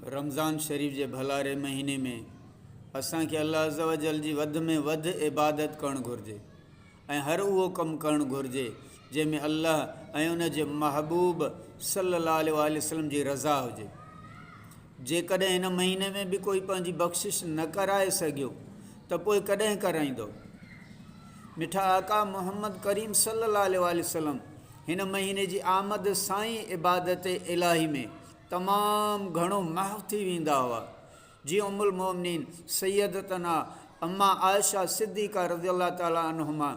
رمضان شريف جي ڀلاري مهيني ۾ اسان کي الله عزّوجلّ جي وڌ ۾ وڌ عبادت ڪرڻ گهرجي ۽ هر اهو ڪم ڪرڻ گهرجي جنهن ۾ الله ۽ ان جي محبوب صلّي الله عليه واٰله وسلّم جي رضا هجي جيڪڏهن هن مهيني ۾ به ڪوئي پنهنجي بخشش نه ڪرائي سگهيو ته پوء ڪڏهن ڪرائيندؤ؟ مٺا آقا محمد ڪريم صلي الله عليه واٰله وسلم هن مهيني جي آمد سان ئي عبادت الاهي ۾ تمام گهڻو محو ٿي ويندا هئا. جيئن ام المومنين سيدتنا امّا عائشه صديقه رضي الله تعالٰي عنهما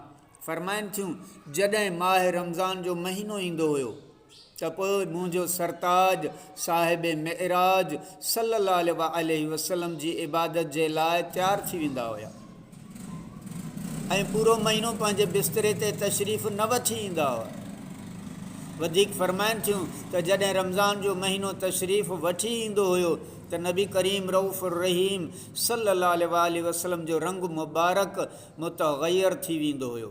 فرمائن ٿيون، جڏهن ماه رمضان جو مهينو ايندو هيو، ته پوء منهنجو سرتاج صاحب معراج صلّي الله عليه واٰله وسلّم جي عبادت جي لاء تيار ٿي ويندا هيا ۽ پورو مهينو پنهنجي بستري تي تشريف نه وٺي ايندا هئا. وڌيڪ فرمائن ٿيون ته جڏهن رمضان جو مهينو تشريف وٺي ايندو هيو ته نبي ڪريم رئوف الرحيم صلّي الله عليه واٰله وسلّم جو رنگ مبارڪ متغيّر ٿي ويندو هيو.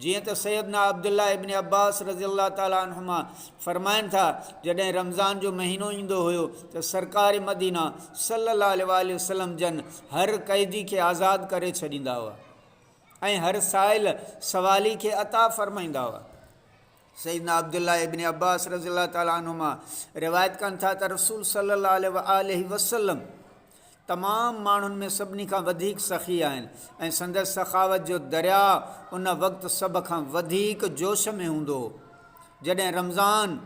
جيئن ته سيدنا عبدالله ابن عباس رضي الله تعالٰي عنهما فرمائن ٿا، جڏهن رمضان جو مهينو ايندو هيو ته سرڪار مدينه صلّي الله عليه واٰله وسلّم جن هر قيدي کي آزاد ڪري ڇڏيندا هئا ۽ هر سائل، سوالي، کي عطا فرمائيندا هئا. سيدنا عبدالله ابن عباس رضي الله تعالٰي عنهما روايت ڪن ٿا ته رسول صلّي الله عليه واٰله وسلّم تمام ماڻهن ۾ سڀني کان وڌيڪ سخي آهن ۽ سندس سخاوت جو درياء ان وقت سڀ کان وڌيڪ جوش ۾ هوندو هو جڏهن رمضان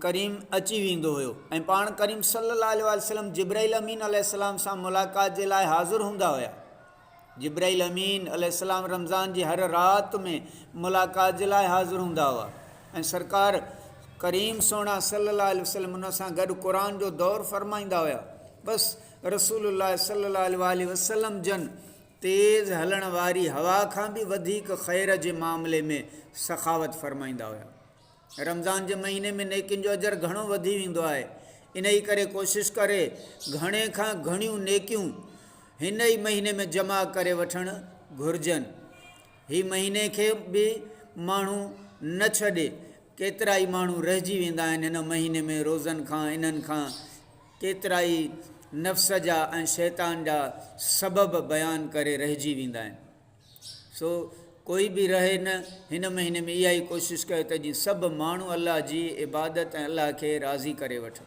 ڪريم اچي ويندو هيو ۽ پاڻ ڪريم صلي الله عليه وسلم جبرائيل امين عليه السلام سان ملاقات جي لاء حاضر هوندا هيا جبرائيل امين عليه السلام رمضان جي هر رات ۾ ملاقات جي لاء حاضر هوندا هئا ۽ سرڪار ڪريم سهڻا صلي الله عليه وسلم انهن سان گڏ قرآن جو دور فرمائيندا هيا بس رسول الله صلي الله عليه واٰله وسلم جن تيز هلڻ واري هوا کان به وڌيڪ خير جي معاملي ۾ سخاوت فرمائيندا هيا. رمضان جي مهيني ۾ نيڪين جو اجر گهڻو وڌي ويندو آهي انهي ڪري ڪوشش ڪري گهڻي کان گهڻيون نيڪيون هن ئي مهيني ۾ جمع ڪري وٺڻ گهرجن هي مهيني کي به ماڻهو نه ڇڏي ڪيترا ئي ماڻهو رهجي ويندا آهن هن مهيني ۾ روزن کان انهن کان ڪيترا ئي نفس جا ۽ شيطان جا سبب بيان ڪري رهجي ويندا آهن سو ڪوئي به رهي نه هن مهيني ۾ اها ئي ڪوشش ڪيو ته جيئن سڀ ماڻهو الله جي عبادت ۽ الله کي راضي ڪري وٺن.